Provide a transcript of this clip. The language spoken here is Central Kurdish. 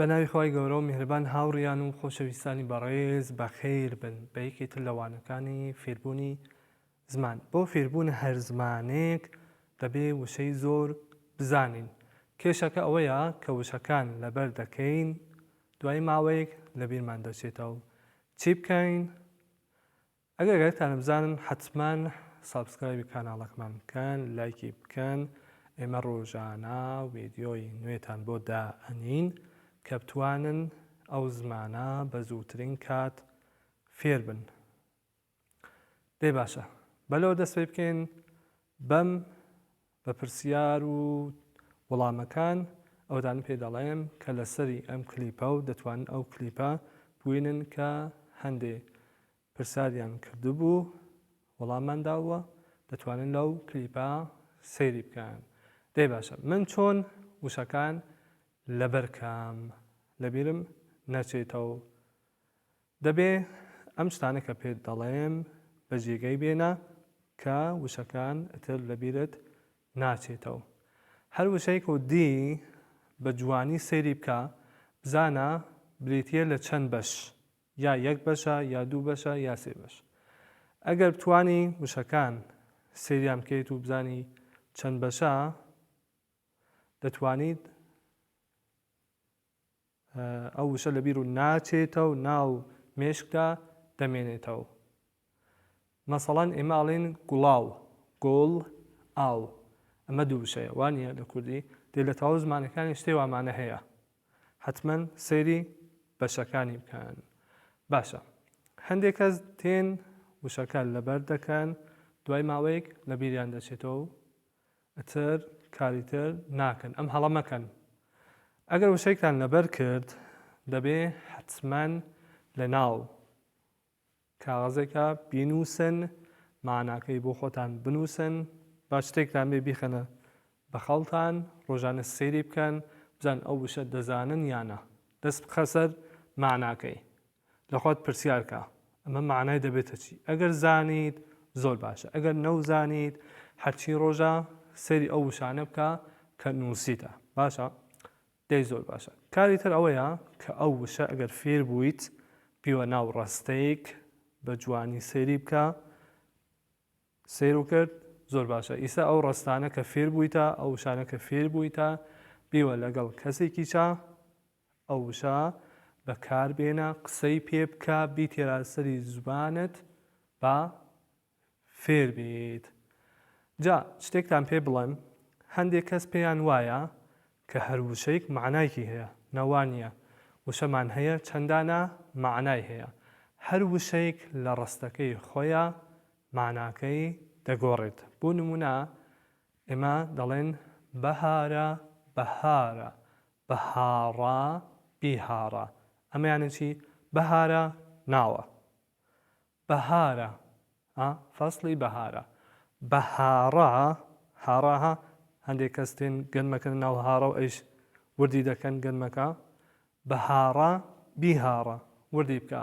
بە ناوی خوای گەورە و میهرەبان هاوڕیان و خۆشەویستانی بەڕێز بەخێر بن بە یەکێ تر لە وانەکانی فێربوونی زمان بۆ فێربوون هەر زمانێک دەبێ وشەی زۆر بزانین کێشەکە ئەوەیە کە وشەکان لەبەر دەکەین دوای ماوەیەک لەبیرمان دەچێتەوە چی بکەین؟ ئەگەر گەرەکتانە بزانن حەتمەن سابسکرایبی کاناڵەکمان بکەن لایکی بکەن ئێمە ڕۆژانە وێدیۆی نوێتان بۆ دائەنین کە بتوانن ئەو زمانە بە زووترین کات فێربن دەی باشە بەلەوە دەست پێ بکەین بەم بە پرسیار و وڵامەکان ئەوەتان پێ دەڵێم کە لە سەری ئەم کلیپە و دەتوانن ئەو کلیپە بوینن کە هەندێ پرساریان کردبوو وڵاممان داووە دەتوانن لەو کلیپە سەیری بکەن دەی باشە من چۆن وشەکان لەبەر کام لەبیرم نەچێتەوە دەبێ ئەم شتانە کە پێت دەڵێم بە جێگەی بێنە کە وشەکان ئتر لە بیرت ناچێتەوە هەر وشەیک و دی بە جوانی سەیری بکە بزانە بریتیە لە چەند بەش یا یەک بەشە یا دوو بەشە یا سێ بەش ئەگەر بتوانی وشەکان سەیریان بکەیت و بزانی چەند بەشە دەتوانیت ئەو وشە لە بیرو ناچێتەو ناو مێشکدا دەمێنێتەو مەسەڵەن ئێمە ئەڵێن گوڵاو گۆڵ ئاو ئەمە دوو وشەیە وانە لە کوردی دێ لە تەواو زمانەکانی شتێ وامانە هەیە حتمما سەیری بەشەکانی بکەن باشە هەندێک کەس تێن وشەکە لەبەر دەکەن دوای ماوەیەک لە بیریان دەچێتەوە ئتر کاری تر ناکەن ئەم هەڵە مەکەن ئەگەر وشەیکتان لەبەر کرد دەبێ حەتمەن لە ناو کاغەزێکا بینوسن ماناکەی بۆ خۆتان بنوسن با شتێکتان بێ بیخەنە بە خەڵتان ڕۆژانە سەیری بکەن بزان ئەو وشە دەزانن یانا دەست بخە سەر ماناکەی لە خۆت پرسیار کە ئەمە مەعنای دەبێتە چی؟ ئەگەر زانیت زۆر باشە ئەگەر نەوزانیت هەرچی ڕۆژە سەیری ئەو وشانە بکە کە نووسیتە باشە دەی زۆر باشە کاری تر ئەوەیە کە ئەو وشە ئەگەر فێر بوویت پیوە ناو ڕاستەیەک بە جوانی سەیری بکە سیر و کرد زۆر باشە ئیستا ئەو ڕستانە کە فێر بوویتە ئەو شانەکە فێر بوویتە بیوە لەگەڵ کەسێکیچە ئەو وشە بەکار بێنە قسەی پێ بکە بیتێرە سەری زوبانت با فێر بیت جا شتێکتان پێ بڵێم هەندێک کەس پێیان وایە کە هەر وشەیک مەعنایکی هەیە نە وا نیە وشەمان هەیە چەندانە مەعنای هەیە هەر وشەیک لە ڕەستەکەی خۆیا مەعناکەی دەگۆڕێت بۆ نمونە ئێمە دەڵێن بەهارە، بەهارە، بهاڕا، بیهاڕا. ئەمە یانی چی؟ بەهارە ناوە. بەهارە، ها، فەسڵی بەهارە. بهاڕا، هاڕا، ها، هەندێک کەس دێن گەنمەکەنە ناو هاڕە و ئەویش وردی دەکەن گەنمەکە. بهاڕا، بیهاڕا، وردی بکە.